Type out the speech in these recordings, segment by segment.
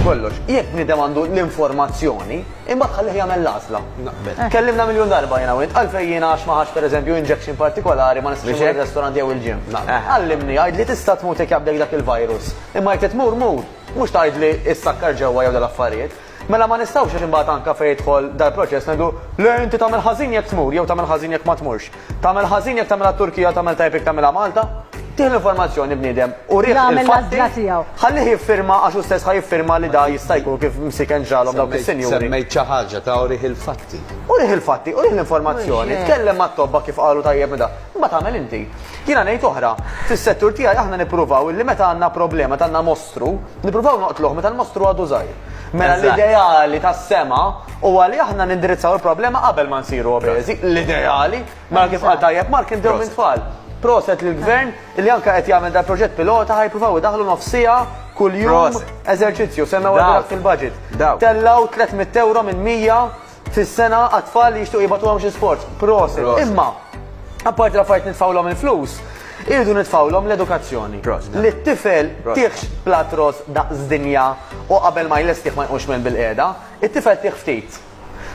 kollox, jekk bnidem għandu l-informazzjoni, imma tħallih jagħmel l-għażla. Eh. Kellimna miljun darba jiena wint, għalfejn jiena għax ma ħax pereżempju injection partikolari ma nistax imur ir-restaurant jew il-ġim. Eh. Għallimni għajd li tista' tmut jekk jabdek dak il-virus. Imma jekk tmur mur, mhux tgħidli issakkar ġewwa jew l-affarijiet. Mela ma nistgħux għax imbagħad anke fejn jidħol dal-proċess ngħidu, le inti tagħmel ħażin jekk tmur jew tagħmel ħażin jekk ma tmurx. Tagħmel ħażin jekk tagħmilha t-Turkija u tagħmel tajjeb jekk tagħmilha Malta. Tih l-informazzjoni bniedem, urih il-fatti, ħallih jiffirma għax hu stess ħa jiffirma li da jista' jkun kif msiken ġralhom dawk is-sinjuri. Semmejt xi ħaġa ta' urih il-fatti. Urih il-fatti, urih l-informazzjoni, tkellem mat-tobba kif qalu tajjeb da. Imbagħad agħmel inti. Jiena ngħid oħra, fis-settur tiegħi aħna nippruvaw illi meta għandna problema, meta għandna mostru, nippruvaw noqtluh meta l-mostru għadu żgħir. Mela l-ideali tas-sema huwa li aħna nindirizzaw il-problema qabel ma nsiru obeżi, l-ideali, mela kif qal tajjeb Mark inbdew minn tfal. Proset lill-Gvern li anke qed jagħmel dan proġett pilota ħa jippruvaw idaħħlu nofs siegħa kuljum eżerċizzju, semmewha dak fil-budget. Tellgħu 300 ewro minn 100 fis-sena għat-tfal li jixtiequ jibgħatulhom xi sforz. Prosit. Imma apparti l-affarijiet nitfgħulhom il-flus, irridu nitfgħulhom l-edukazzjoni. Li t-tifel tieħx platt ross daqs dinja u qabel ma jlestih ma jqumx minn bil-qiegħda, it-tifel tih ftit.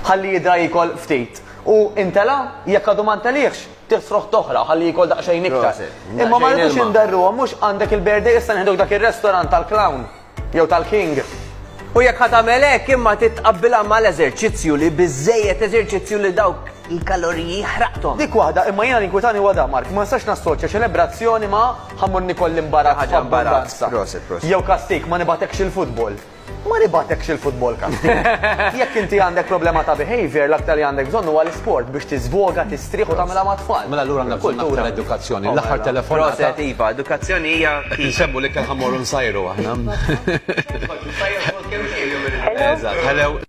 Ħalli jidra jiekol ftit. U intela', jekk għadu ma ntelieħx, tih sroħt oħra ħalli jiekol daqsxejn iktar. Imma ma rridux inderruhom, mhux għandek il-birthday issa nieħduk dak ir-restaurant tal-clown. jew tal-king. U jekk ħa tagħmel hekk imma titqabbilha mal-eżerċizzju li biżejjed eżerċizzju li dawk il-kaloriji ħraqthom. Dik waħda imma jiena l-inkwitani huwa dan Mark, ma nistax nassoċja ċelebrazzjoni ma' ħammur nikolli imbarazz ħaġa imbarazz. Jew kastik ma nibatekx il-futbol. Ma nibatekx il-futbol kastik. Jekk inti għandek problema ta' behavior, l-aktar li għandek bżonn huwa l-isport biex tiżvoga, tistrieħ u tagħmilha ma' tfal. Mela allura għandna kultura edukazzjoni. L-aħħar telefon. Iva, edukazzjoni hija. Nsemmu li kien ħammur Sajru aħna. Hello.